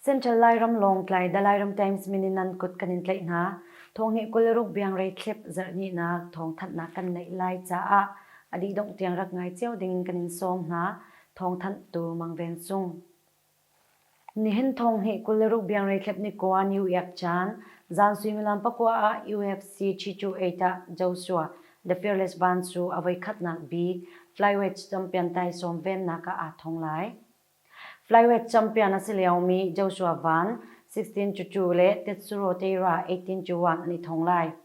Central Lairam lawng tlai da Lairam Times mininan kut kan in tlaih hna. Thongi kul ruk biang rei thlip zarhni na thong that na kan neih lai caah adi dong tiang rak ngai cio ding kan in sawm hna. thawngthanh tu Mang Ven Cung. Nihin thong hnih kul le ruk biang reitlep ni koa UEF caan zan suimilam pakua ah UFC Chichu Eita Joshua The Fearless Van cu a voikhatnak bik flyweight champion taisawm vennak ah aa thong lai. Flyweight champion a si liomi Joshua Van 16 cucu le Tetsuro Teira 18 cuan an i thong lai.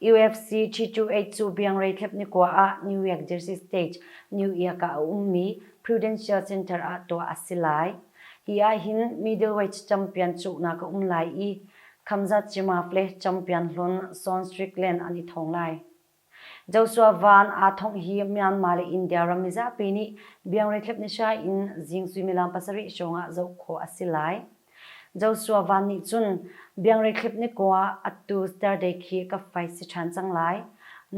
UFC G2H cu biangrei thlep nikua ah New York Jersey State, New York ah a ummi Prudential Center ah tuah a si lai. Hi ahhin middleweight champion cuknak a um lai i, Khamzat Chimaev le champion hlun Sean Strickland an i thong lai. Joshua Vaughn aa thongh hi Myanmar le India ram mizapi nih biangrei thlep nihra in zing suimilam pasarih hrawng ah zoh khawh a si lai. Joshua Van nih cun Biangrekhip ni ko ah atu Thursday khi ka fai si ṭhan cang lai.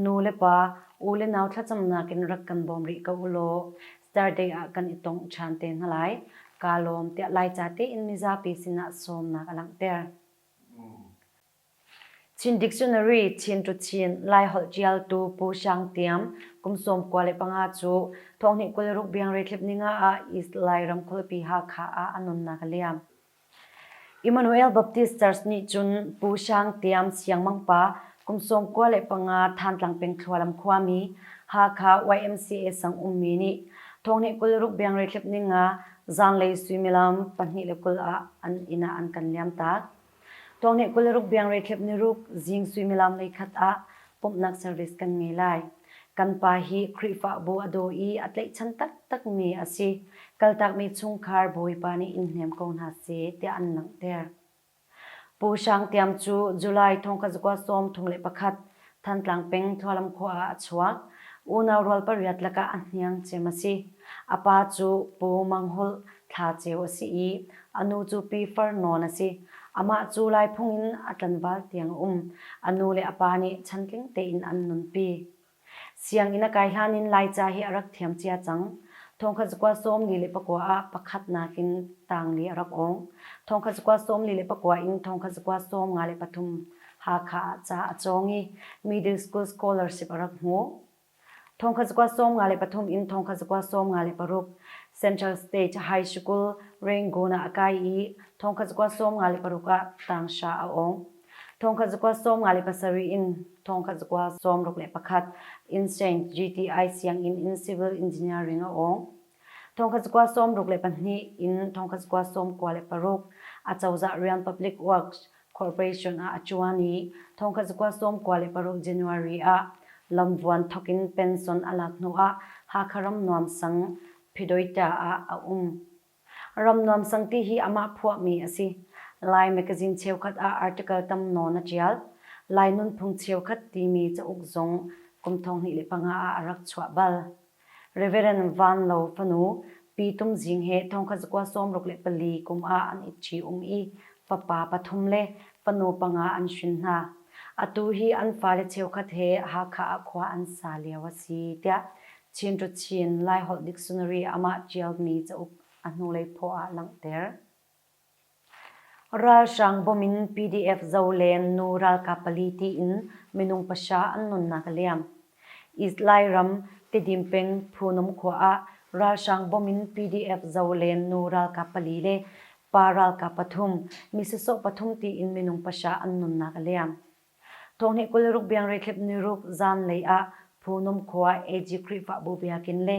Nu le pa, u le nau thlacamnak in rak kan bawm rih ko ulaw Thursday ah kan i tongh ṭhan te hna lai. Kaa lawm tiah Laica tein mizapi sinah sawmnak a langhter. Chin Dictionary Chin cu Chin Laiholh ṭialtu Pu Hrang Tiam kum sawm kua le panga cu thawhnih kul ruk biangre thlip ninga ah East Lai ramkulpi Hakha ah a nunnak a liam. Emmanuel Baptist Church nih cun Pu Hrang Tiam siangmang pa kum sawm kua le panga Thantlang peng thlualam khuami Hakha YMCA sang ummi nih thawhnih kul ruk biangre thlip ninga zanlei suimilam pahnih le kul ah an inn ah an kan liamtak. Tuangneh kul le ruk biangre thlep niruk zing suimilam leikhat ah pumhnak service kan ngei lai. Kan pa hi Khrihfahbu a daw i a tlaihchan taktakmi a si. Kaltakmi chungkhar Bawipa nih in hnem ko hna seh tiah an langhter. Pu Hrang Tiam cu July thong ka zakua sawm thong le pakhat Thantlang peng Tualam khua ah a chuak. Unau rual pariat lakah a hniang cem a si. A pa cu Pu Mang Hulh Thla Ceu a si i a nu cu Pi Far Nawn a si. Amah cu Laiphung in a tlanval tiang a um. A nu le a pa nih chantling tein an nunpi. Sianginn a kai hlan in Laica hi a rak thiam cia cang. Thawngkhat cakuat sawmli le pakua ah pakhatnak in tangli a rak awng. Thawngkhat cakuat sawmli le pakua in thawngkhat cakuat sawm nga le pathum Hakha ah ca a cawng i Middle School Scholarship a rak hmu. Thongkhat zakua sawm nga le pathum in thongkhat zakua sawm nga le paruk Central State High School Rangoon ah a kai i thongkhat zakua sawm nga le paruk ah Tangsha a awng. Thongkhat zakua sawm nga le pasarih in thongkhat zakua sawm ruk le pakhat in St. GTI sianginn in Civil Engineering a awng. Thawngkhat cakuat sawmruk le pahnih in thawngkhat cakuat sawm kua le paruk Acozah Rian Public Works Corporation ah a ṭuan i thawngkhat cakuat sawm kua le paruk January ah lamvuan thawk in pension a lak hnu ah Hakha Ramnuam Sang, Phydoita ah a um. Ramnuam Sang ti hi amah phuahmi a si. Lai Mekazin cheukhat ah article tam nawn a ṭial. Lai nunphung cheukhat timi cauk zong kum thonghnih le panga ah a rak chuah bal. Rev. Van Lo fanu Pi Tum Zing he thongkhat zakua sawmruk le pali kum ah an it ṭhium i fapa pathum le fanu panga an hrin hna. Atu hi an fale cheukhat he Hakha ah khua an sa lio a si tiah Chinṭu Chin Laiholh Dictionary amah ṭialmi cauk a hnulei phaw ah langhter. Ralhrang bawm in PDF Zoleng nu ralkap pali tiin minung pahra an nunnak a liam. Izlai ram Tedim peng Phunum khua ah ralhrang bawm in PDF Zoleng nu ralkap pali le pa ralkap pathum, misasawh pathum tiin minung pahra an nunnak a liam. Thawng nih kul ruk biangreithlip niruk zanlei ah Phunum khua AG Khrihfabu biakinn le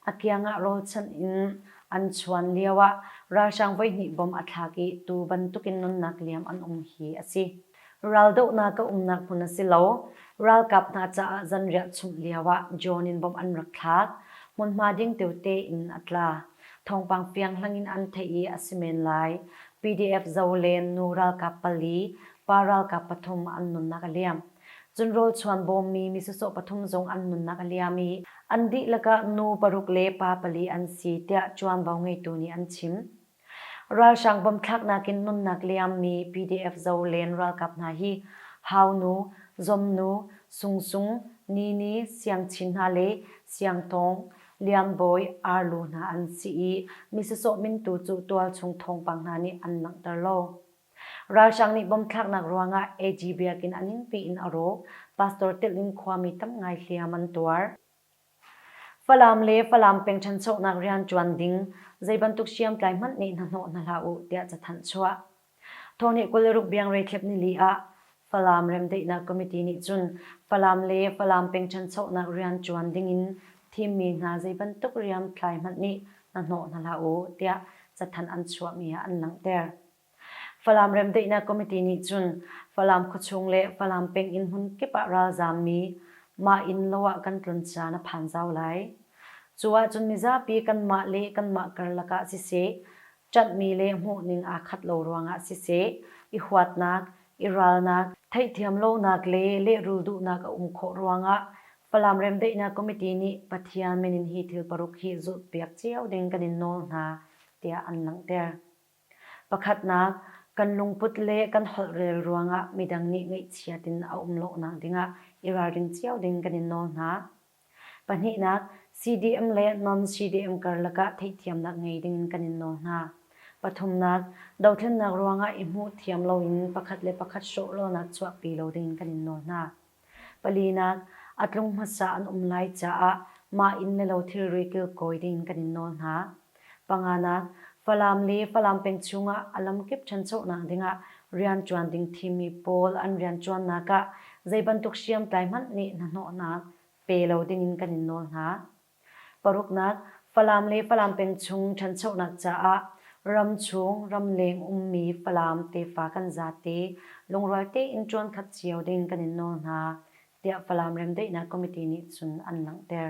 a kiang ah rawlchanh in an chuan lio ah ralhrang voihnih bom a thlak i tu bantuk in nunnak liam an um hi a si. Raldohnak a umnak hmun a si lo. Ralkap hna caah zanriah chumh lio ah drone in bom an rak thlak. Hmunhma ding teute in a tla. Thawngpang piangthlang in an theih i a si men lai. PDF Zolen nu ralkap pali pa ralkap pathum an nunnak a liam. Cun rawlchuan bawmmi misawsawh pathum zong an nunnak a liam i an dihlak ah nu paruk le pa pali an si tiah ṭuanvo ngeitu nih an chim. Ralhrang bom thlaknak in nunnak liammi PDF Zolen ralkap hna hi Haunu, Zomnu, Sungsung, Nini, Siangchin hna le Siangtawng, Lianbawi, Arlu hna an si i misawsawh mintu cu tualchung thawngpang hna nih an langhter lo. Ralhrang nih bom thlaknak ruangah AG biakinn a ningpi in a rawk, pastor telh in khuami tam ngai hliam an tuar. Falam le Falam peng ṭhanchonak rianṭuan ding zeibantuk hriamtlai hmanh nih hnahnawh hna hlah u, tiah cathanh chuah. Thawhni kul le ruk biangrei thlep nili ah Falam Remdaihnak Committee nih cun Falam le Falam peng ṭhanchonak rian ṭuan dingin thimmi hna zeibantuk riamtlai hmanh nih hna hnawh hna hlah u tiah cathanh an chuahmi ah an langhter. Falam Remdaihnak Committee nih cun Falam khuachung le Falam peng inn hmun kip ah ralzaammi mah inn lo ah kan tlun caan a phan zau lai. Cu ahcun mizapi kanmah le kanmah karlak ah siseh, ṭanhmi le hmuhning aa khat lo ruangah siseh, i huatnak, i ralnak, theihthiam lonak le lehrul duhnak a um khawh ruangah Falam Remdaihnak Committee nih Pathian min in hi thil paruk hi zulhpiak cio ding kan in nawl hna tiah an langhter. Pakhatnak, kan lungput le kan holhrel ruangah midang nih ngaihchiat in a um lawhnak dingah i ralring cio ding kan in nawl hna. Pahnihnak, CDM le non-CDM karlak ah theihthiamnak ngei ding kan in nawl hna. Pathumnak, dothlennak ruangah i hmuh thiam loin pakhat le pakhat hrawh lonak chuahpi lo ding kan in nawl hna. Palinak, a tlung hmasa an um lai caah mah inn le lo thilri kilkawi ding kan in nawl hna. Panganak, Falam le Falam peng chungah a lamkip ṭhanchonak dingah rianṭuan ding thimmi pawl an rianṭuannak ah zeibantuk hriamtlai hmanh nih hnahnawhnak pe lo dingin kan in nawl hna. Paruknak, Falam le Falam peng chung ṭhanchonak caah ramchung, ramleng ummi Falam tefa kan zate lungrual tein ṭuankhat cio ding kan in nawl hna, tiah Falam Remdaihnak Committee nih cun an langhter.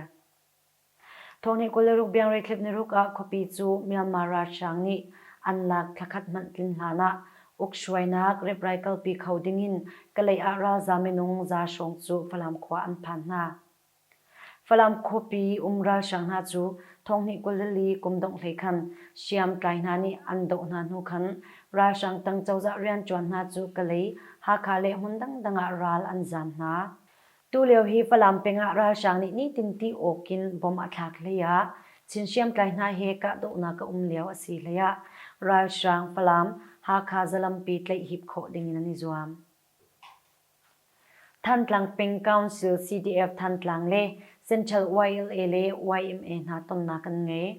Thawng nih kul le ruk biangreithlip niruk ah khuapi cu Myanmar ralhrang nih an lak thlakhat hmanh tlin hlan ah ukhruainak ripraih kalpi kho ding in Kalay ah ralzaam minung za hrawng cu Falam khua an phan hna. Falam khuapi um ralhrang hna cu thawng hnih kul le li kum dongh hlei khan hriamtlai hna nih an doh hna hnu khan ralhrang tang cozah rianṭuan hna cu Kalay, Hakha le hmun dangdang ah ral an zaam hna. Tulio hi Falam peng ah ralhrang nih nitin ti awk in bomb a thlak hlei ah Chin hriamtlai hna he kahdohnak a um lio a si hlei ah ralhrang Falam Hakha zalampi tlaih hip khawh ding in an i zuam. Thantlang peng Council CDF Thantlang le Central YLA le yma hna tonnak an ngei.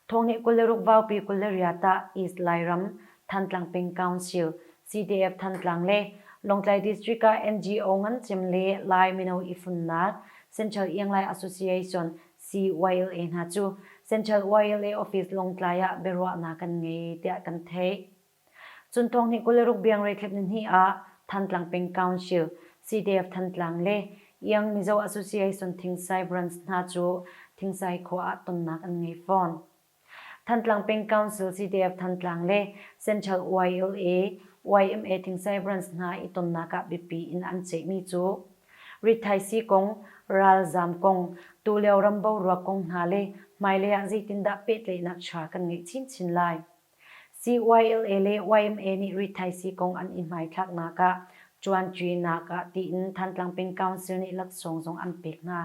Thawngnih kul le ruk vaupi kul le riat ah East Lairam Thantlang Peng Council, CDF Thantlang le Lawngtlai District ah NGO ngan cem le Lai mino ifunnak Central Ianglai Association, CYLA, hna cu Central YLA office Lawngtlai ah biaruahnak kan ngei tiah kan theih. Cun thawng hnih kul le ruk biangreithlep ni hnih ah Thantlang Peng Council, CDF-Thantlang le Iang Mizo Association Thingsai Branch hna cu Thingsai khua ah tonnak an ngei fawn. Thantlang Peng Council CDF-Thantlang le Central YLA, yma Thingsai Branch hna i tonnak ah biapi in an ceihmi cu rithaisii kong, ralzaam kong, tulio ram boruak kong hna le hmailei ah zeitindah pehtlaihnak ṭha kan ngeih chinchin lai. CYLA le yma nih rithaisii kong an i hmaithlaknak ah ṭuanṭinak ah tiin Thantlang Peng Council nih laksawng zong an pek hna.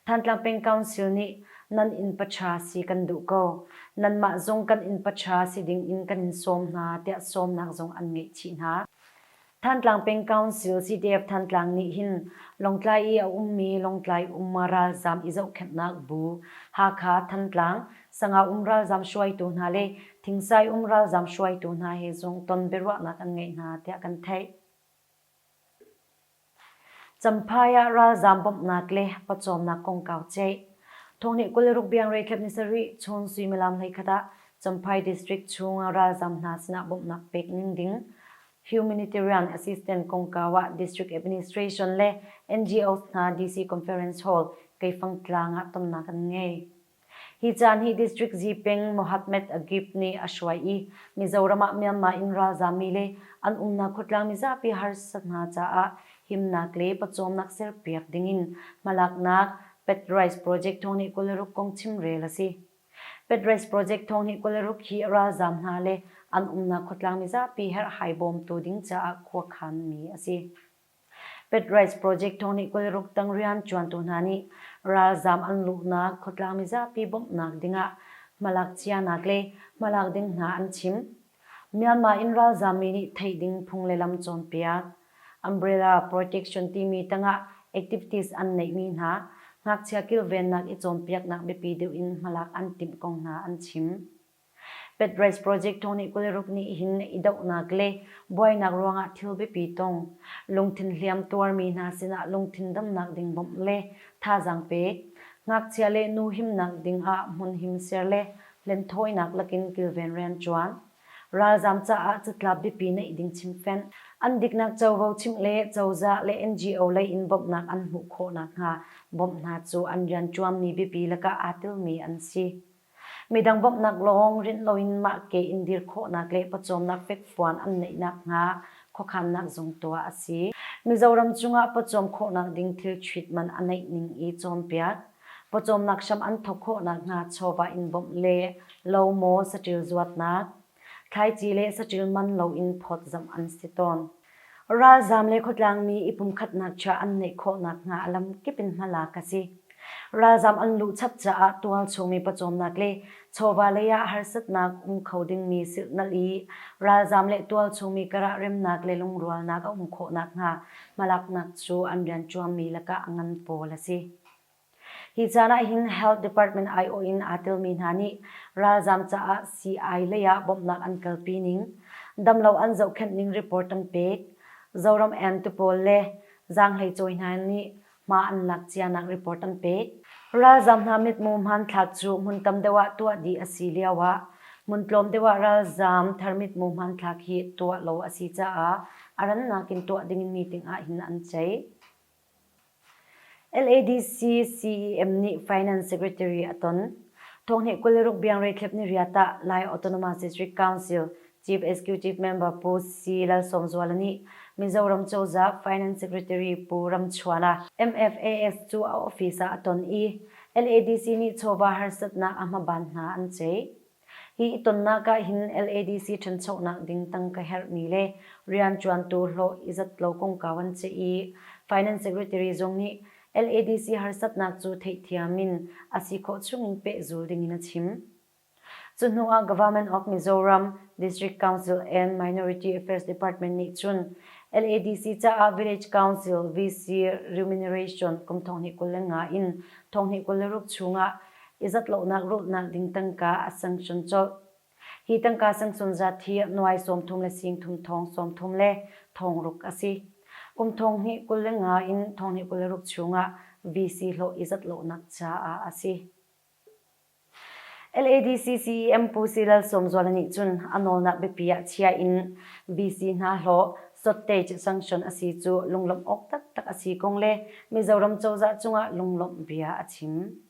Thantlang Peng Council nih nan innpaṭha si kan duh ko, nanmah zong kan innpaṭha si ding in kan in sawm hna tiah sawmnak zong an ngeih chih hna. Thantlang Peng Council CDF-Thantlang nih hin Lawngtlai i a ummi Lawngtlai um ralzaam i zohkhenhnak bu, Hakha-Thantlang, Sangau-um ralzaam hruaitu hna le Thingsai um ralzaam hruaitu hna he zung ton biaruahnak an ngeih hna tiah kan theih. Champhai ah ralzaam bawmhnak le pawcawmnak kongkau ceih. Thawngnih kul le ruk biang reitlep ni sarih chun suimilam hleikhat ah Champhai District chung ralzaam hna sinah bawmhnak pek ning ding. Humanitarian Assistance kongkau ah District Administration le NGOs hna DC Conference Hall, Keifang Tlang ah tonnak an ngei. Hi caan hi District Zipeng Mohammad Agib nih a hruai i Mizoram ah Myanmar in ralzaam mi le an umnak khuatlang mizapi harsa hna caah himnak le pawcawmnak serpiak ding in hmalaknak Pet Rice Project thawng nih kul le ruk kong chim rel a si. Petrace project thawng hi Kawlruk hi ralzaam hna le an umnak khuatlang mizapi herhhai bawmtu ding caah khuakhan mi a si. Petrace project thawng nih Kawlruk tang rianṭuantu hna nih ralzaam an luhnak khuatlang mizapi bawmhnak dingah hmalakcianak le hmalak ding hna an chim. Myanmar in ralzam mi nih theih ding phung le lam cawnpiak, umbrella protection timi tangah activities an neih mi hna ngakchia kilvennak i cawnpiaknak biapi deuh in hmalak an timh kong hna an chim. Petrace project tu nih kuli ruk nih hin i dohnak le buainak ruangah thil biapi tong, lungthin hliam tuar mi hna sinah lungthin damnak ding bawmh le thazaang pek, ngakchia le nu himnak dingah hmun him ser le Hlenthawinak lakin kilven rianṭuan, Ralzaam caah catlap biapi neih ding chimhfenh, an diknak covo chimh le cozah le NGO lei in bawmhnak an hmuh khawh nakhnga bawmh hna cu an rianṭuanmi biapi lakah aa tilmi an si. Midang bawmhnak lawng rinh loin mahke in dir khawhnak le pawcawmnak fekfuan an neih nakhnga khuakhannak zung tuah a si. Mizoram cungah pawcawm khawhnak ding thil treatment a neih ning i cawnpiak. pawcawmnak hram an thawk khawhnak hnga chawva in bawmh le lo maw saṭil zuatnak, thlaici le saṭil man loin phawtzamh an si tawn. Ralzaam le khuatlangmi i pumkhatnak chia an ngeih khawhnak hnga a lamkip in hmalak a si. Ralzaam an luh chap caah tualchungmi pawcawmnak le chawva lei ah harsatnak um kho dingmi silhnalh i ralzaam le tualchungmi karah remnak le lungrualnak a um khawhnak hnga hmalaknak cu an rianṭuanmi lakah ngan pawl a si. Hi caan ahhin Health Department aiawh in aa telmi hna nih ralzaam caah sii-ai lei ah bawmhnak an kalpi ning, damlo an zohkhenh ning report an pek, Zoram Emtu pawl le zaanghlei cawi hna nih hma an lak cianak report an pek. Ralzaam hna mithmuh hmanthlak cu hmun tam deuh ah tuah dih a si lio ah hmun tlawm deuh ah ralzaam thar mithmuh hmanthlak hi tuah lo a si caah a rannak in tuah ding meeting ahhin an ceih. LADC CEM nih Finance Secretary a ton. Thawnghneh kul le ruk biangre thlep ni ria tah Lai Autonomous District Council Chief Executive Member Pu C. Lalsawmzuala nih Mizoram cozah Finance Secretary Pu Ramchuana MFAS cu a office ah a ton i LADC nih chawva harsatnak a hmaban hna an ceih. Hi i tonnak ah hin LADC ṭhanchonak ding tang ka herhmi le rianṭuantu hlawh i zat lo kongkau an si i Finance Secretary zong nih LADC harsatnak cu theihthiam in a si khawh chungin pehzul dingin a chim. Cuhnu ah Government of Mizoram District Council and Minority Affairs Department nih cun LADC caah Village Council VC Remuneration kum thonghnih kul le nga in thonghnih kul le ruk chung ah i zatlonak rulhnak ding tangka a sanction colh. Hi tangka sanction zat hi nuai sawmthum le singthum thong sawmthum le thong ruk a si. Kum thong hnih kul le nga in thong hnih kul le ruk chungah VC hlawh i zatlonak caah a si. LADCCEM Pu Si Lal Sawmzuala nih cun a nawlnak biapi ah chia in VC hna hlawh sottage sanction a si cu lunglawmh awk taktak a si kong le Mizoram cozah cungah lunglawmh bia a chim.